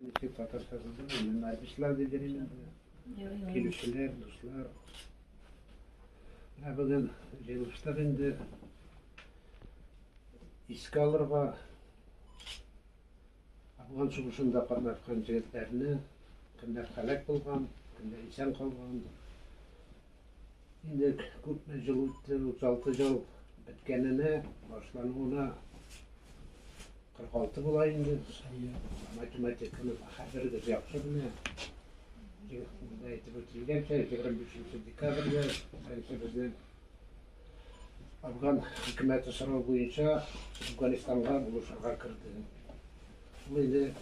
Ничек татарча булды? Менә ишләр диде мин. Килүчеләр, дуслар. Ә бүген җыелыштык инде. Искә алырга Афган сугышында катнашкан җегетләрне, кемнәр һәлак булган, кемнәр исән калган, Инде күпме ел үтте, 36 ел беткәненә, башлануына 46 була инде. Математиканы хәзергез яхшы белә. Монда әйтеп үтелгәнчә, 25 декабрьдә беренче безне афган хөкүмәте сорау буенча Афганистанга булышырга керде. Ул инде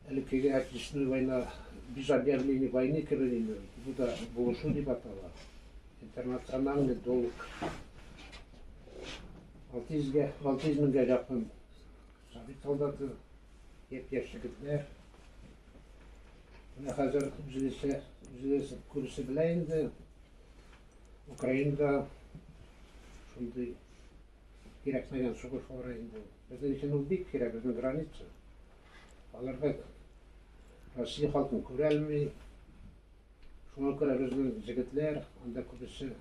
Элеккеге Отечественная война без объявление войны кебек инде ул. Бу да булышу дип атала. Интернациональный долг. 600 га 600 меңгә якын совет солдаты, япь-яшь егетләр. Менә хәзер үзегезчә, үзегез күрше белә инде. Украинада шундый кирәкмәгән сугыш бара инде. Безнең өчен ул бик кирәк, безнең граница. Аларга Россия халкын күрәлми. Шуңа күрә безнең җегетләр анда күбесе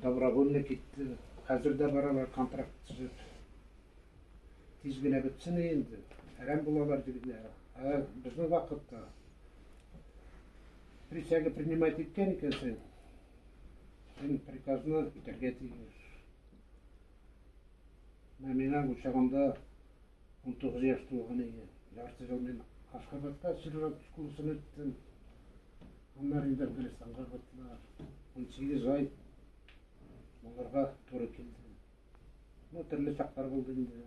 добровольно китте. Хәзер дә баралар контракт төзеп. Тиз генә бетсен инде. Әрәм булалар дигеләр. Ә безнең вакытта присяга принимать иткән икәнсең, син приказны үтәргә тиеш. Менә минем учагымда унтугыз яшь тулган иде. Ярты ел мин Ашхабадта сержант школасын үттем. Аннары инде Әфганистанга кайттылар. Унсигез ай аларга туры килде. Ну, төрле чаклар булды инде.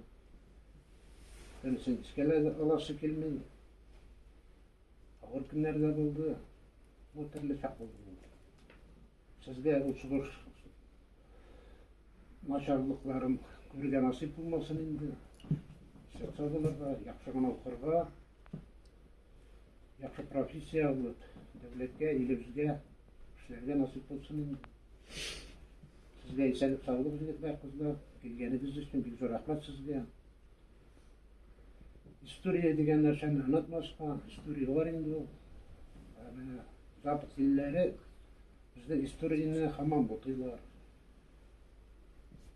Берсен эшкә дә аласы килми. Авыр көннәр дә булды. Ну, төрле чак булды. Сезгә уцгыш начарлыкларын күрергә насыйп булмасын инде. Сәлсә булырга, яхшы гына укырга, яхшы профессия алып, дәүләткә, илебезгә эшләргә насыйп булсын инде. Сезгә исәнлек саулык егетләр, кызлар, килгәнегез өчен бик зур рәхмәт сезгә. История дигән нәрсәне онытмаска, история бар инде ул. Ә менә запад илләре безнең историяне хамам бутыйлар.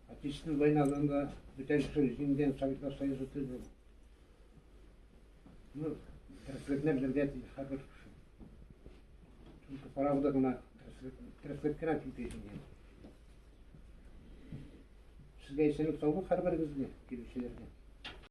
Отечественная войнадан да бүтән кеше җиңгән Советлар Союзы түгел. Ну, тереслекне белергә тиеш һәрбер кеше. Чөнки правда гына тереслек кенә китешенгән. Сезгә исәнлек саулык һәрберегезгә, килүчеләргә.